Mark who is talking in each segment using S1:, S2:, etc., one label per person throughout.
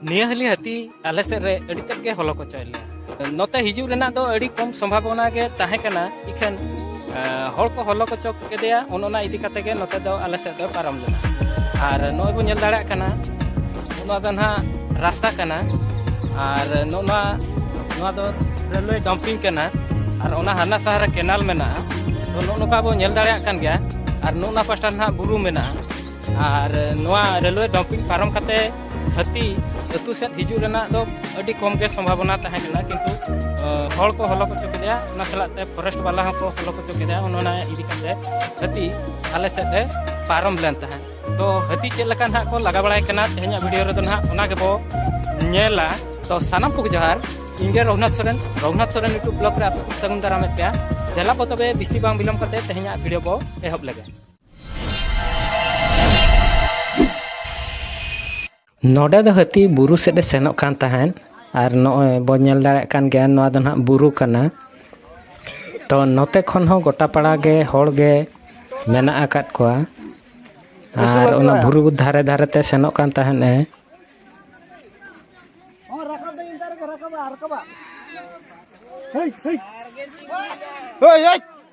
S1: ᱱᱤᱭᱟᱹ ᱦᱟᱹᱞᱤ ᱦᱟᱹᱛᱤ ᱟᱞᱮ ᱥᱮᱫ ᱨᱮ ᱟᱹᱰᱤ ᱛᱮᱫ ᱜᱮ ᱦᱚᱞᱚ ᱠᱚᱪᱚᱭ ᱞᱮᱭᱟ ᱱᱚᱛᱮ ᱦᱤᱡᱩᱜ ᱨᱮᱱᱟᱜ ᱫᱚ ᱟᱹᱰᱤ ᱠᱚᱢ ᱥᱚᱢᱵᱷᱟᱵᱚᱱᱟ ᱜᱮ ᱛᱟᱦᱮᱸ ᱠᱟᱱᱟ ᱤᱠᱷᱟᱹᱱ ᱦᱚᱲ ᱠᱚ ᱦᱚᱞᱚ ᱠᱚᱪᱚ ᱠᱮᱫᱮᱭᱟ ᱚᱱ ᱚᱱᱟ ᱤᱫᱤ ᱠᱟᱛᱮ ᱜᱮ ᱱᱚᱛᱮ ᱫᱚ ᱟᱞᱮ ᱥᱮᱫ ᱫᱚ ᱯᱟᱨᱚᱢ ᱞᱮᱱᱟ ᱟᱨ ᱱᱚᱜᱼᱚᱭ ᱵᱚᱱ ᱧᱮᱞ ᱫᱟᱲᱮᱭᱟᱜ ᱠᱟᱱᱟ ᱱᱚᱣᱟ ᱫᱚ ᱱᱟᱦᱟᱜ ᱨᱟᱥᱛᱟ ᱠᱟᱱᱟ ᱟᱨ ᱱᱚᱣᱟ ᱱᱚᱣᱟ ᱫᱚ ᱨᱮᱞᱣᱮ ᱰᱟᱢᱯᱤᱝ ᱠᱟᱱᱟ ᱟᱨ ᱚᱱᱟ ᱦᱟᱱᱟ ᱥᱟᱦᱟᱨ ᱨᱮ ᱠᱮᱱᱟᱞ ᱢᱮᱱᱟᱜᱼᱟ ᱛᱚ ᱱᱚᱜᱼᱚ ᱱᱚᱝᱠᱟ ᱵᱚᱱ ᱧᱮᱞ ᱫᱟᱲᱮᱭᱟᱜ ᱠᱟᱱ ᱜᱮᱭᱟ ᱟᱨ ᱱᱚᱜᱼᱚ ᱱᱚᱣᱟ ᱯᱟᱥᱴᱟ ᱱᱟᱦᱟᱜ ᱵᱩᱨᱩ ᱢᱮᱱᱟᱜᱼᱟ ᱟᱨ ᱱᱚᱣᱟ ᱨᱮᱞᱣᱮ ᱰᱚᱢᱯᱤᱝ ᱯᱟᱨᱚᱢ ᱠᱟᱛᱮ ᱦᱟᱹᱛᱤ ᱟᱹᱛᱩ ᱥᱮᱫ ᱦᱤᱡᱩᱜ ᱨᱮᱱᱟᱜ ᱫᱚ ᱟᱹᱰᱤ ᱠᱚᱢ ᱜᱮ ᱥᱚᱢᱵᱷᱟᱵᱚᱱᱟ ᱛᱟᱦᱮᱸ ᱠᱟᱱᱟ ᱠᱤᱱᱛᱩ ᱦᱚᱲ ᱠᱚ ᱦᱚᱞᱚ ᱦᱚᱪᱚ ᱠᱮᱫᱮᱭᱟ ᱚᱱᱟ ᱥᱟᱞᱟᱜ ᱛᱮ ᱯᱷᱚᱨᱮᱥᱴ ᱵᱟᱞᱟ ᱦᱚᱸ ᱠᱚ ᱦᱚᱞᱚ ᱦᱚᱪᱚ ᱠᱮᱫᱮᱭᱟ ᱚᱱᱟ ᱤᱫᱤ ᱠᱟᱛᱮ ᱦᱟᱹᱛᱤ ᱟᱞᱮ ᱥᱮᱫ ᱮ ᱯᱟᱨᱚᱢ ᱞᱮᱱ ᱛᱟᱦᱮᱸᱫ ᱛᱚ ᱦᱟᱹᱛᱤ ᱪᱮᱫ ᱞᱮᱠᱟ ᱱᱟᱦᱟᱜ ᱠᱚ ᱞᱟᱜᱟ ᱵᱟᱲᱟᱭ ᱠᱟᱱᱟ ᱛᱮᱦᱮᱧᱟᱜ ᱵᱷᱤᱰᱤᱭᱳ ᱨᱮᱫᱚ ᱱᱟᱦᱟᱜ ᱚᱱᱟ ᱜᱮᱵᱚ ᱧᱮᱞᱟ ᱛᱚ ᱥᱟᱱᱟᱢ ᱠᱚᱜᱮ ᱡᱚᱦᱟᱨ ᱤᱧᱜᱮ ᱨᱚᱜᱷᱩᱱᱟᱛᱷ ᱥᱚᱨᱮᱱ ᱨᱚᱜᱷᱩᱱᱟᱛᱷ ᱥᱚᱨᱮᱱ ᱤᱭᱩᱴᱩᱵᱽ ᱵᱞᱚᱜᱽ ᱨᱮ ᱟᱯᱮ ᱠᱚ ᱥᱟᱹᱜᱩᱱ ᱫᱟᱨᱟᱢᱮᱫ ᱯᱮᱭᱟ ᱡᱮᱞᱟ ᱵᱚ ᱛᱚᱵᱮ ᱵᱤᱥᱛᱤ ᱵᱟᱝ ᱵᱤᱞᱚᱢ ᱠᱟᱛᱮ ᱛᱮᱦᱮᱧᱟᱜ ᱵᱷᱤᱰᱤᱭᱳ ᱵᱚ ᱮᱦᱚᱵ ᱞᱮᱜᱮ ᱱᱚᱰᱮ ᱫᱚ ᱦᱟᱹᱛᱤ ᱵᱩᱨᱩ ᱥᱮᱫ ᱮ ᱥᱮᱱᱚᱜ ᱠᱟᱱ ᱛᱟᱦᱮᱸᱫ ᱟᱨ ᱱᱚᱜᱼᱚᱭ ᱵᱚᱱ ᱧᱮᱞ ᱫᱟᱲᱮᱭᱟᱜ ᱠᱟᱱ ᱜᱮᱭᱟ ᱱᱚᱣᱟ ᱫᱚ ᱱᱟᱦᱟᱜ ᱵᱩᱨᱩ ᱠᱟᱱᱟ ᱛᱚ ᱱᱚᱛᱮ ᱠᱷᱚᱱ ᱦᱚᱸ ᱜᱚᱴᱟ ᱯᱟᱲᱟ ᱜᱮ ᱦᱚᱲ ᱜᱮ ᱢᱮᱱᱟᱜ ᱟᱠᱟᱫ ᱠᱚᱣᱟ ᱟᱨ ᱚᱱᱟ ᱵᱩᱨᱩ ᱫᱷᱟᱨᱮ ᱫᱷᱟᱨᱮ ᱛᱮ ᱥᱮᱱᱚᱜ ᱠᱟᱱ ᱛᱟᱦᱮᱸᱫ ᱮ ᱦᱳᱭ ᱦᱳᱭ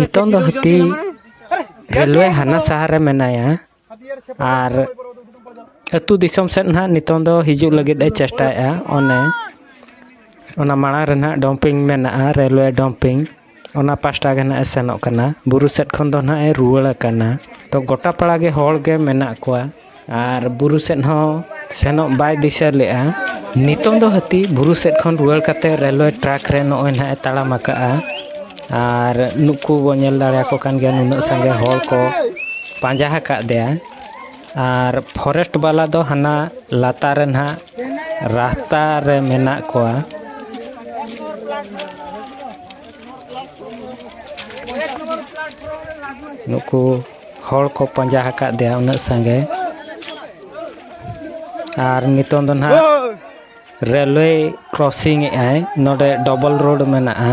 S1: ᱱᱤᱛᱚᱝ ᱫᱚ ᱦᱟᱹᱛᱤ ᱨᱮᱞᱣᱮ ᱦᱟᱱᱟ ᱥᱟᱦᱟᱨ ᱨᱮ ᱢᱮᱱᱟᱭᱟ ᱟᱨ ᱟᱹᱛᱩ ᱫᱤᱥᱚᱢ ᱥᱮᱫ ᱱᱟᱦᱟᱜ ᱱᱤᱛᱚᱝ ᱫᱚ ᱦᱤᱡᱩᱜ ᱞᱟᱹᱜᱤᱫ ᱮ ᱪᱮᱥᱴᱟᱭᱮᱫᱼᱟ ᱚᱱᱮ ᱚᱱᱟ ᱢᱟᱲᱟᱝ ᱨᱮ ᱱᱟᱦᱟᱜ ᱰᱚᱢᱯᱤᱝ ᱢᱮᱱᱟᱜᱼᱟ ᱨᱮᱞᱣᱮ ᱰᱚᱢᱯᱤᱝ ᱚᱱᱟ ᱯᱟᱥᱴᱟ ᱜᱮ ᱱᱟᱦᱟᱜ ᱮ ᱥᱮᱱᱚᱜ ᱠᱟᱱᱟ ᱵᱩᱨᱩ ᱥᱮᱫ ᱠᱷᱚᱱ ᱫᱚ ᱱᱟᱦᱟᱜ ᱮ ᱨᱩᱣᱟᱹᱲ ᱟᱠᱟᱱᱟ ᱛᱚ ᱜᱚᱴᱟ ᱯᱟᱲᱟ ᱜᱮ ᱦᱚᱲ ᱜᱮ ᱢᱮᱱᱟᱜ ᱠᱚᱣᱟ ᱟᱨ ᱵᱩᱨᱩ ᱥᱮᱫ ᱦᱚᱸ ᱥᱮᱱᱚᱜ ᱵᱟᱭ ᱫᱤᱥᱟᱹ ᱞᱮᱫᱼᱟ ᱱᱤᱛᱚᱝ ᱫᱚ ᱦᱟᱹᱛᱤ ᱵᱩᱨᱩ ᱥᱮᱫ ᱠᱷᱚᱱ ᱨᱩᱣᱟᱹᱲ ᱠᱟᱛᱮᱫ ᱨᱮᱞᱣᱮ ᱴᱨᱮᱠ ᱨᱮ ᱱᱚᱜᱼᱚᱭ ᱱᱟᱦᱟᱜ ᱮ ᱛᱟᱲᱟᱢ ᱟᱠᱟᱫᱼᱟ ᱟᱨ ᱱᱩᱠᱩ ᱵᱚᱱ ᱧᱮᱞ ᱫᱟᱲᱮᱭᱟᱠᱚ ᱠᱟᱱ ᱜᱮᱭᱟ ᱱᱩᱱᱟᱹᱜ ᱥᱟᱸᱜᱮ ᱦᱚᱲ ᱠᱚ ᱯᱟᱸᱡᱟ ᱟᱠᱟᱫᱮᱭᱟ ᱟᱨ ᱯᱷᱚᱨᱮᱥᱴ ᱵᱟᱞᱟ ᱫᱚ ᱦᱟᱱᱟ ᱞᱟᱛᱟᱨ ᱨᱮ ᱱᱟᱦᱟᱜ ᱨᱟᱥᱛᱟ ᱨᱮ ᱢᱮᱱᱟᱜ ᱠᱚᱣᱟ ᱱᱩᱠᱩ ᱦᱚᱲ ᱠᱚ ᱯᱟᱸᱡᱟ ᱟᱠᱟᱫᱮᱭᱟ ᱩᱱᱟᱹᱜ ᱥᱟᱸᱜᱮ ᱟᱨ ᱱᱤᱛᱚᱝ ᱫᱚ ᱱᱟᱦᱟᱜ ᱨᱮᱞᱣᱮ ᱠᱨᱚᱥᱤᱝ ᱮᱫᱟᱭ ᱱᱚᱰᱮ ᱰᱚᱵᱚᱞ ᱨᱳᱰ ᱢᱮᱱᱟᱜᱼᱟ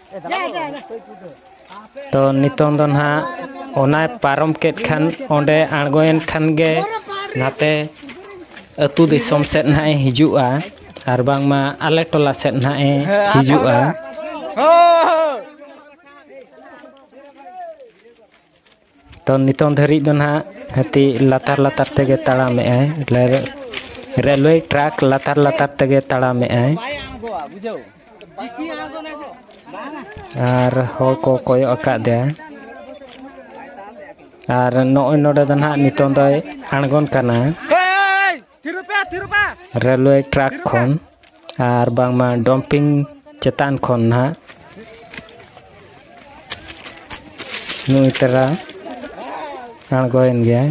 S1: ᱛᱚ ᱱᱤᱛᱚᱝ ᱫᱚ ᱱᱟᱦᱟᱜ ᱚᱱᱟᱭ ᱯᱟᱨᱚᱢ ᱠᱮᱫ ᱠᱷᱟᱱ ᱚᱸᱰᱮ ᱟᱬᱜᱚᱭᱮᱱ ᱠᱷᱟᱱ ᱜᱮ ᱱᱟᱛᱮ ᱟᱹᱛᱩ ᱫᱤᱥᱚᱢ ᱥᱮᱫ ᱱᱟᱦᱟᱜ ᱮ ᱦᱤᱡᱩᱜᱼᱟ ᱟᱨ ᱵᱟᱝᱢᱟ ᱟᱞᱮ ᱴᱚᱞᱟ ᱥᱮᱫ ᱱᱟᱦᱟᱜ ᱮ ᱦᱤᱡᱩᱜᱼᱟ ᱛᱚ ᱱᱤᱛᱚᱝ ᱫᱷᱟᱹᱨᱤᱡ ᱫᱚ ᱱᱟᱦᱟᱜ ᱦᱟᱹᱛᱤ ᱞᱟᱛᱟᱨ ᱞᱟᱛᱟᱨ ᱛᱮᱜᱮ ᱛᱟᱲᱟᱢᱮᱫ ᱟᱭ ᱨᱮᱞᱣᱮ ᱴᱨᱟᱠ ᱞᱟᱛᱟᱨ ᱞᱟᱛᱟᱨ ᱛᱮᱜᱮ ᱛᱟᱲᱟᱢᱮᱫ ᱟᱭ ᱟᱨ ᱦᱚᱲ ᱠᱚ ᱠᱚᱭᱚᱜ ᱟᱠᱟᱫᱮᱭᱟ ᱟᱨ ᱱᱚᱜᱼᱚᱭ ᱱᱚᱰᱮ ᱫᱚ ᱱᱟᱦᱟᱜ ᱱᱤᱛᱚᱝ ᱫᱚᱭ ᱟᱬᱜᱚᱱ ᱠᱟᱱᱟ ᱨᱮᱞᱣᱮ ᱴᱨᱟᱠ ᱠᱷᱚᱱ ᱟᱨ ᱵᱟᱝᱢᱟ ᱰᱚᱢᱯᱤᱝ ᱪᱮᱛᱟᱱ ᱠᱷᱚᱱ ᱱᱟᱦᱟᱜ ᱱᱩᱭ ᱛᱟᱨᱟ ᱟᱬᱜᱚᱭᱮᱱ ᱜᱮᱭᱟᱭ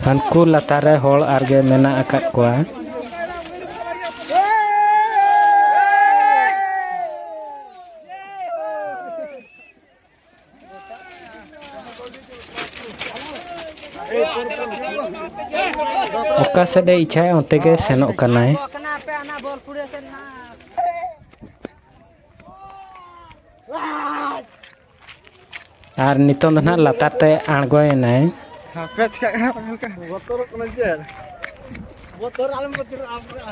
S1: ᱦᱟᱱᱠᱩ ᱞᱟᱛᱟᱨ ᱨᱮ ᱦᱚᱲ ᱟᱨᱜᱮ ᱢᱮᱱᱟᱜ ᱟᱠᱟᱫ ᱠᱚᱣᱟ ᱚᱠᱟ ᱥᱮᱫ ᱮ ᱤᱪᱷᱟᱭᱟ ᱚᱱᱛᱮ ᱜᱮ ᱥᱮᱱᱚᱜ ᱠᱟᱱᱟᱭ ᱟᱨ ᱱᱤᱛᱚᱝ ᱫᱚ ᱱᱟᱦᱟᱜ ᱞᱟᱛᱟᱨ ᱛᱮ ᱟᱬᱜᱚᱭᱮᱱᱟᱭ ᱵᱚᱛᱚᱨᱚᱜ ᱠᱟᱱᱟ ᱪᱮᱫ ᱵᱚᱛᱚᱨ ᱟᱞᱚᱢ ᱵᱚᱛᱚᱨᱚᱜᱼᱟ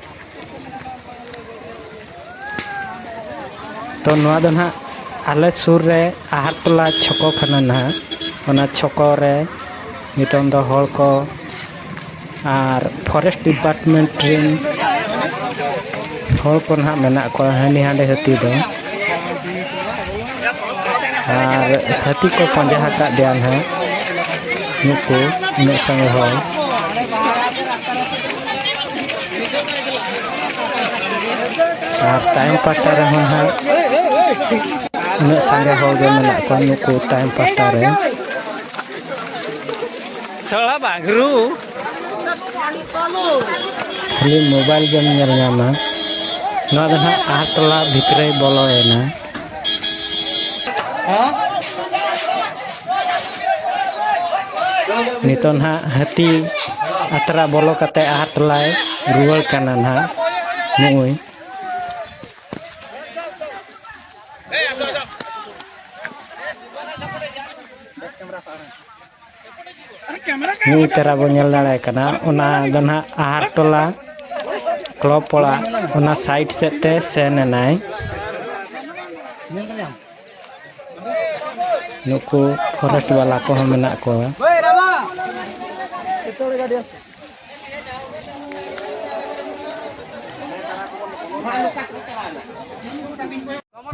S1: ᱛᱚ ᱱᱚᱣᱟ ᱫᱚ ᱱᱟᱦᱟᱜ ᱟᱞᱮ ᱥᱩᱨ ᱨᱮ ᱟᱦᱟᱨ ᱴᱚᱞᱟ ᱪᱷᱚᱠᱚ ᱠᱟᱱᱟ ᱱᱟᱦᱟᱜ ᱚᱱᱟ ᱪᱷᱚᱠᱚ ᱨᱮ ᱱᱤᱛᱚᱝ ᱫᱚ ᱦᱚᱲ ᱠᱚ ᱟᱨ ᱯᱷᱚᱨᱮᱥᱴ ᱰᱤᱯᱟᱨᱴᱢᱮᱱᱴ ᱨᱮᱱ ᱦᱚᱲ ᱠᱚ ᱱᱟᱦᱟᱜ ᱢᱮᱱᱟᱜ ᱠᱚᱣᱟ ᱦᱟᱺᱰᱤ ᱦᱟᱺᱰᱤ ᱦᱟᱹᱛᱤ ᱫᱚ ᱟᱨ ᱦᱟᱹᱛᱤ ᱠᱚ ᱯᱟᱸᱡᱟ ᱟᱠᱟᱫ ᱫᱮᱭᱟ ᱱᱟᱦᱟᱜ ᱱᱩᱠᱩ ᱩᱱᱟᱹᱜ ᱥᱟᱸᱜᱮ ᱦᱚᱲ ᱟᱨ ᱛᱟᱭᱚᱢ ᱯᱟᱦᱴᱟ ᱨᱮᱦᱚᱸ ᱱᱟᱦᱟᱜ ᱩᱱᱟᱹᱜ ᱥᱟᱸᱜᱮ ᱦᱚᱲ ᱜᱮ ᱢᱮᱱᱟᱜ ᱠᱚᱣᱟ ᱱᱩᱠᱩ ᱛᱟᱭᱚᱢ ᱯᱟᱦᱴᱟ ᱨᱮ ᱥᱚᱲᱟ ᱵᱟᱜᱽᱨᱩ ᱠᱷᱟᱹᱞᱤ ᱢᱳᱵᱟᱭᱤᱞ ᱜᱮᱢ ᱧᱮᱞ ᱧᱟᱢᱟ ᱱᱚᱣᱟ ᱫᱚ ᱱᱟᱦᱟᱜ ᱟᱦᱟᱨ ᱴᱚᱞᱟ ᱵᱷᱤᱛᱨᱤ ᱵᱚᱞᱚᱭᱮᱱᱟ ᱱᱤᱛᱚᱜ ᱱᱟᱦᱟᱜ ᱦᱟᱹᱛᱤ ᱟᱛᱨᱟ ᱵᱚᱞᱚ ᱠᱟᱛᱮ ᱟᱦᱟᱨ ᱴᱚᱞᱟᱭ ᱨᱩᱣᱟᱹᱲ ᱠᱟᱱᱟ ᱱᱟᱦᱟᱜ ᱱᱩᱭ ᱱᱤᱭᱟᱹ ᱪᱟᱨᱟ ᱵᱚᱱ ᱧᱮᱞ ᱫᱟᱲᱮ ᱠᱟᱱᱟ ᱚᱱᱟ ᱫᱚ ᱱᱟᱦᱟᱜ ᱟᱦᱟᱨ ᱴᱚᱞᱟ ᱠᱞᱚᱵ ᱯᱚᱲᱟ ᱚᱱᱟ ᱥᱟᱭᱤᱰ ᱥᱮᱫ ᱛᱮ ᱥᱮᱱ ᱮᱱᱟᱭ ᱱᱩᱠᱩ ᱯᱷᱚᱨᱮᱥᱴ ᱵᱟᱞᱟ ᱠᱚᱦᱚᱸ ᱢᱮᱱᱟᱜ ᱠᱚᱣᱟ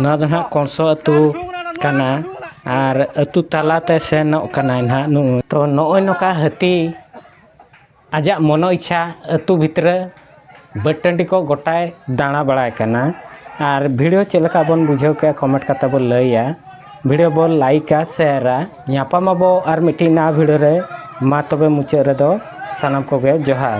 S1: ᱱᱚᱣᱟ ᱫᱚ ᱱᱟᱦᱟᱜ ᱠᱚᱝᱥᱚ ᱟᱹᱛᱩ ᱠᱟᱱᱟ ᱟᱨ ᱟᱹᱛᱩ ᱛᱟᱞᱟᱛᱮ ᱥᱮᱱᱚᱜ ᱠᱟᱱᱟᱭ ᱱᱟᱦᱟᱜ ᱱᱩᱭ ᱛᱚ ᱱᱚᱜᱼᱚᱭ ᱱᱚᱝᱠᱟ ᱦᱟᱹᱛᱤ ᱟᱡᱟᱜ ᱢᱚᱱᱚ ᱤᱪᱪᱷᱟ ᱟᱹᱛᱩ ᱵᱷᱤᱛᱨᱤ ᱵᱟᱹᱫᱽ ᱴᱟᱺᱰᱤ ᱠᱚ ᱜᱚᱴᱟᱭ ᱫᱟᱬᱟ ᱵᱟᱲᱟᱭ ᱠᱟᱱᱟ ᱟᱨ ᱵᱷᱤᱰᱤᱭᱳ ᱪᱮᱫ ᱞᱮᱠᱟ ᱵᱚᱱ ᱵᱩᱡᱷᱟᱹᱣ ᱠᱮᱜᱼᱟ ᱠᱚᱢᱮᱱᱴ ᱠᱟᱛᱮ ᱵᱚᱱ ᱞᱟᱹᱭᱟ ᱵᱷᱤᱰᱤᱭᱳ ᱵᱚᱱ ᱞᱟᱭᱤᱠᱟ ᱥᱮᱭᱟᱨᱟ ᱧᱟᱯᱟᱢ ᱟᱵᱚ ᱟᱨ ᱢᱤᱫᱴᱤᱡ ᱱᱟᱣᱟ ᱵᱷᱤᱰᱤᱭᱳ ᱨᱮ ᱢᱟ ᱛᱚᱵᱮ ᱢᱩᱪᱟᱹᱫ ᱨᱮᱫᱚ ᱥᱟᱱᱟᱢ ᱠᱚᱜᱮ ᱡᱚᱦᱟᱨ